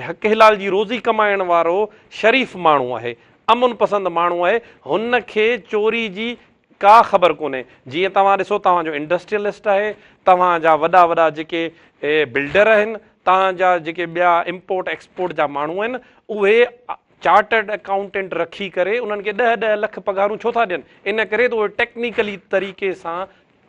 حق حلال جي روزي ڪمائڻ وارو شريف ماڻهو آهي امن پسند ماڻهو آهي هن کي چوري جي ڪا خبر ڪونهي جيئن توهان ڏسو توهان جو انڊسٽريل لسٽ آهي توهان جا وڏا وڏا جيڪي بلڊر آهن توهان جا جيڪي ٻيا امپورٽ ايڪسپورٽ جا ماڻهو آهن اهي چارٽرڊ اڪائونٽنٽ رکي ڪري انهن کي ڏهه ڏهه لک پگهارون ڇو ٿا ڏين ان ڪري ته اهي ٽيڪنيڪلي طريقي سان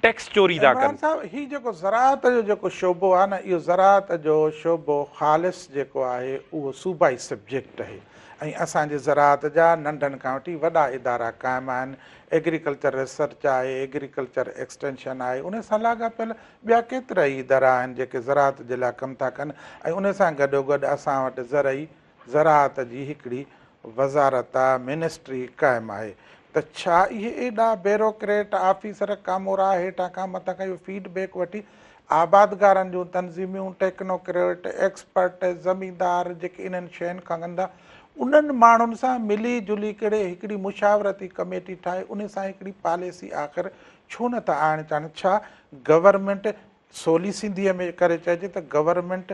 ٽيڪس چوري ٿا ڪن. عمران صاحب هي جيڪو زراعت جو جيڪو شعبو آهي نه اهو زراعت جو شعبو خالص جيڪو آهي اهو صوبائي سبجيڪٽ آهي ۽ اسان جي زراعت جا ننڍن کان وٺي وڏا ادارا قائم آهن، ايگريڪلچر ريسرچ آهي، ايگريڪلچر ايڪسٽينشن آهي، ان سان لاڳاپيل ٻيا ڪيترائي ادارا آهن جيڪي زراعت جي لاء ڪم ٿا ڪن ۽ ان سان گڏوگڏ اسان وٽ زرعي زراعت جي هڪڙي وزارت، منسٽري، قائم آهي ته ڇا اهي ايڏا بيروڪريٽ آفيسر ڪامورا هيٺان کان مٿان کان اهو فيڊ بيڪ وٺي آبادگارن جون تنظيميون، ٽيڪنوڪريٽ، ايڪسپرٽ، زميندار جيڪي انهن شين کان ڳندا انهن ماڻهن سان ملي جلي ڪري هڪڙي مشاورتي ڪميٽي ٺاهي انهي سان هڪڙي پاليسي آخر ڇو نه ٿا آڻڻ چاهن ڇا گورنمينٽ سولي سنڌي ۾ ڪري چئجي ته گورنمينٽ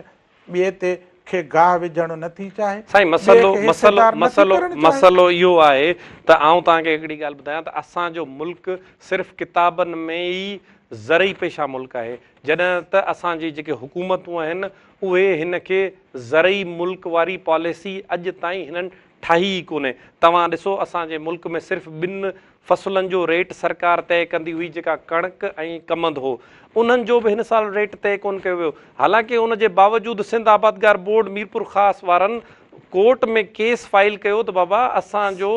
ٻئي تي کي گاهه وجهڻ نه ٿي چاهي. سائين مسئلو مسئلو مسئلو مسئلو اهو آهي ته آئون توهان کي هڪڙي ڳالهه ٻڌايان ته اسان جو ملڪ صرف ڪتابن ۾ ئي زرعي پيشه ملڪ آهي جڏهن ته اسان جي جيڪي حڪومتون آهن اهي هن کي زرعي ملڪ واري پاليسي اڄ تائين هنن ٺاهي ئي ڪونهي. توهان ڏسو اسان جي ملڪ ۾ صرف ٻن فصلن جو ريٽ سرڪار طئي ڪندي هئي جيڪا ڪڻڪ ۽ ڪمند هو. انهن جو به هن سال ريٽ طئي ڪونه ڪيو ويو. حالانڪه ان جي باوجود سنڌ آبادگار بورڊ ميرپورخاص وارن ڪورٽ ۾ ڪيس فائل ڪيو ته بابا اسان جو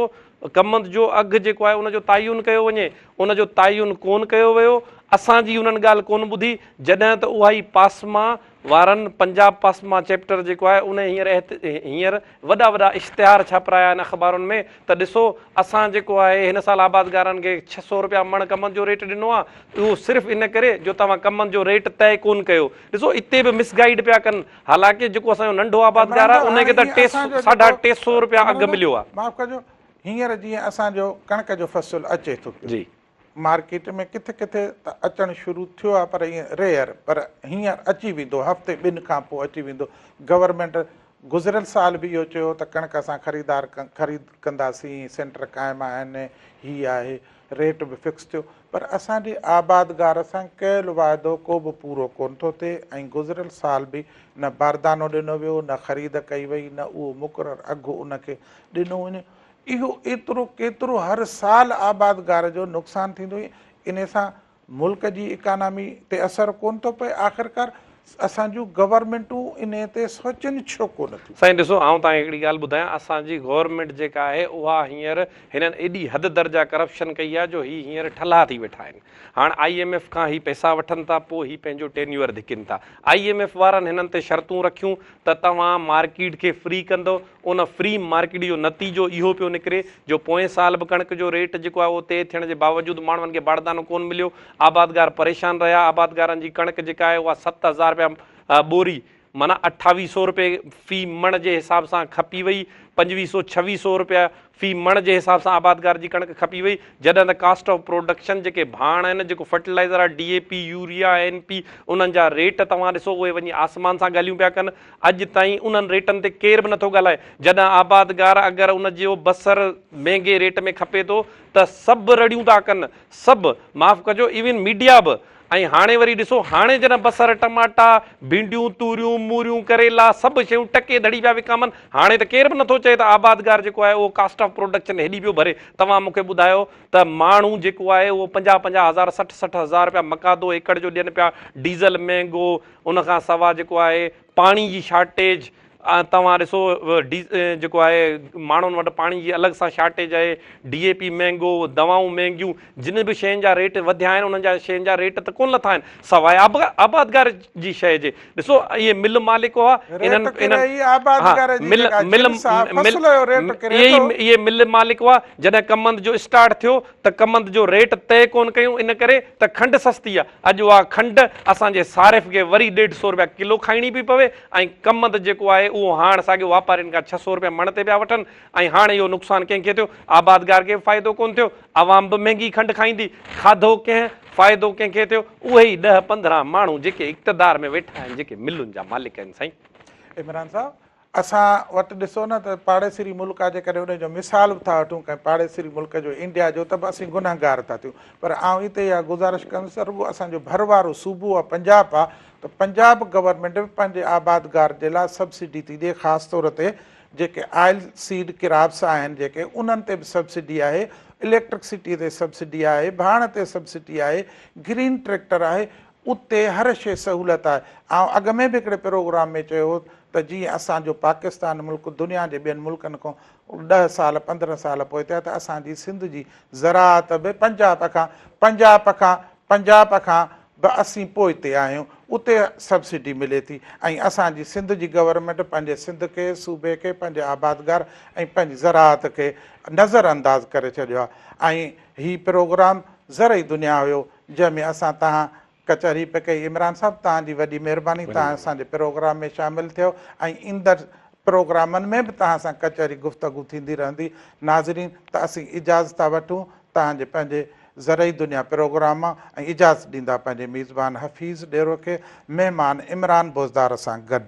ڪمند جو اگهه جيڪو آهي ان جو تعين ڪيو وڃي. ان جو تعين ڪونه ڪيو ويو. اسان جي انهن ڳالهه ڪونه ٻڌي جڏهن ته اها ئي پاسمان وارن پنجاب پاسما چيپٽر جيڪو آهي انهي هينئر هينئر وڏا وڏا اشتهار ڇاپرايا آهن اخبارن ۾ ته ڏسو اسان جيڪو آهي هن سال آبادگارن کي ڇهه سؤ رپيا مڻ ڪمند جو ريٽ ڏنو آهي اهو صرف ان ڪري جو توهان ڪمند جو ريٽ طئي ڪون ڪيو ڏسو اتي به مس گائيڊ پيا ڪن حالانڪه جيڪو اسان جو ننڍو آبادگار آهي انهي کي ته ٽي ساڍا ٽي سؤ رپيا اگهه مليو آهي. معاف ڪجو هينئر جيئن اسان جو ڪڻڪ جو فصل اچي ٿو پيو مارڪيٽ ۾ ڪٿي ڪٿي ته اچڻ شروع ٿيو آهي پر ائين ريئر پر هينئر اچي ويندو هفتي ٻن کان پوء اچي ويندو گورنمينٽ گذريل سال به اهو چيو هو ته ڪڻڪ اسان خريدار خريد ڪنداسين سينٽر قائم آهن هي آهي ريٽ به فڪس ٿيو پر اسان جي آبادگار سان ڪيل واعدو ڪو به پورو ڪونه ٿو ٿئي ۽ گذريل سال به نه باردانو ڏنو ويو نه خريد ڪئي وئي نه اهو مقرر اگهه ان کي ڏنو وڃي اهو ايترو ڪيترو هر سال آبادگار جو نقصان ٿيندو ۽ انهي سان ملڪ جي اڪانامي تي اثر ڪونه ٿو پئي آخرڪار اسان جون گورنمينٽون انهي تي سوچين ڇو ڪونه ٿيون. سائين ڏسو آئون توهان کي هڪڙي ڳالهه ٻڌايان اسان جي گورنمينٽ جيڪا آهي اها هينئر هنن ايڏي حد درجه ڪرپشن ڪئي آهي جو هي هينئر ٺلها ٿي ويٺا آهن هاڻ آئي ايم ايف کان هي پئسا وٺن ٿا پوء هي پنهنجو ٽينيوئر ڌڪين ٿا آئي ايم ايف وارن هنن تي شرطون رکيون ته توهان مارڪيٽ کي فري ڪندو ان فري مارڪيٽ جو نتيجو اهو پيو نڪري جو پوئين سال به ڪڻڪ جو ريٽ جيڪو آهي اهو طئي ٿيڻ جي باوجود ماڻهن کي باڙدانو ڪونه مليو، آبادگار پريشان رهيا، آبادگارن جي ڪڻڪ جيڪا آهي اها ست هزار رپيا ٻوري معنيٰ اٺاويهه سئو رپئي في مڻ جي حساب سان کپي وئي، پنجويهه سئو ڇويهه سئو رپيا في مڻ جي حساب سان آبادگار جي ڪڻڪ کپي وئي جڏهن ته ڪاسٽ آف پروڊڪشن جيڪي ڀاڻ آهن جيڪو فرٽيلائزر آهي D A P urea N P انهن جا ريٽ توهان ڏسو اهي وڃي آسمان سان ڳالهيون پيا ڪن اڄ تائين انهن ريٽن تي ڪير به نٿو ڳالهائي جڏهن آبادگار اگر ان جو بصر مهنگي ريٽ ۾ کپي ٿو ته سڀ رڙيون ٿا ڪن سڀ معاف ڪجو ايون ميڊيا به ۽ هاڻي وري ڏسو هاڻي جڏهن بصر، ٽماٽا، ڀينڊيون، توريون، موريون، ڪريلا سڀ شيون ٽڪي ڌڙي پيا وڪامن هاڻي ته ڪير به نٿو چئي ته آبادگار جيڪو آهي اهو ڪاسٽ آف پروڊڪشن هيڏي پيو ڀري توهان مونکي ٻڌايو ته ماڻهو جيڪو آهي اهو پنجاهه پنجاهه هزار سٺ سٺ هزار رپيا مقادو ايڪڙ جو ڏين پيا ڊيزل مهنگو ان کان سوا جيڪو آهي پاڻي جي شارٽيج توهان ڏسو جيڪو آهي ماڻهن وٽ پاڻي جي الڳ سان شارٽيج آهي، ڊي اي پي مهنگو، دوائون مهنگيون، جن به شين جا ريٽ وڌيا آهن انهن جا شين جا ريٽ ته ڪونه لٿا آهن سواء آبادگار جي شيء جي، ڏسو اهي مل مالڪ هئا اهي مل مالڪ هئا جڏهن ڪمند جو اسٽارٽ ٿيو ته ڪمند جو ريٽ طئي ڪونه ڪيون ان ڪري ته کنڊ سستي آهي اڄ اها کنڊ اسان جي صارف کي وري ڏيڍ سو روپيا ڪلو کائڻي پئي پوي، ۽ ڪمند جيڪو آهي اهو هاڻ ساڳيو واپارين کان ڇهه سؤ روپيه مڻ تي پيا وٺن ۽ هاڻ اهو نقصان ڪنهن کي ٿيو؟ آبادگار کي به فائدو ڪونه ٿيو، عوام به مهنگي کنڊ کائيندي، کاڌو ڪنهن، فائدو ڪنهن کي ٿيو؟ اهي ئي ڏهه پندرهن ماڻهو جيڪي اقتدار ۾ ويٺا آهن جيڪي ملن جا مالڪ آهن سائين. عمران صاحب اسان وٽ ڏسو نه ته پاڙيسري ملڪ آهي جيڪڏهن ان جو مثال به ٿا وٺون ڪنهن پاڙيسري ملڪ جو انڊيا جو ته به اسين گنهگار ٿا ٿيون پر آئون هتي اها گذارش ڪندس ته رڳو اسان جو ڀر وارو صوبو آهي پنجاب آهي ته پنجاب گورنمينٽ به پنهنجي آبادگار جي لاء سبسڊي ٿي ڏئي خاص طور تي جيڪي آئل سيڊ ڪراپس آهن جيڪي انهن تي به سبسڊي آهي اليڪٽرڪسٽي تي سبسڊي آهي ڀاڻ تي سبسڊي آهي گرين ٽريڪٽر آهي اتي هر شي سهولت آهي آئون اڳ ۾ به هڪڙي پروگرام ۾ چيو هو ته جيئن اسان جو پاڪستان ملڪ دنيا جي ٻين ملڪن کان ڏهه سال پندرهن سال پوئتي آهي ته اسان جي سنڌ جي زراعت به پنجاب کان پنجاب کان پنجاب کان به اسين پوئتي آهيون اتي سبسڊي ملي ٿي ۽ اسان جي سنڌ جي گورنمينٽ پنهنجي سنڌ کي صوبي کي پنهنجي آبادگار ۽ پنهنجي زراعت کي نظر انداز ڪري ڇڏيو آهي ۽ هي پروگرام زرعي دنيا هيو جنهن ۾ اسان تهان ڪچهري پئي ڪئي عمران صاحب تهان جي وڏي مهرباني تهان اسان جي پروگرام ۾ شامل ٿيو ۽ ايندڙ پروگرامن ۾ به تهان سان ڪچهري گفتگو ٿيندي رهندي ناظرين ته اسين اجازت ٿا وٺون تهان جي پنهنجي زرعي دنيا پروگرام ۽ اجازت ڏيندا پنهنجي ميزبان حفيظ ڏيرو کي مهمان عمران بوزدار سان گڏ.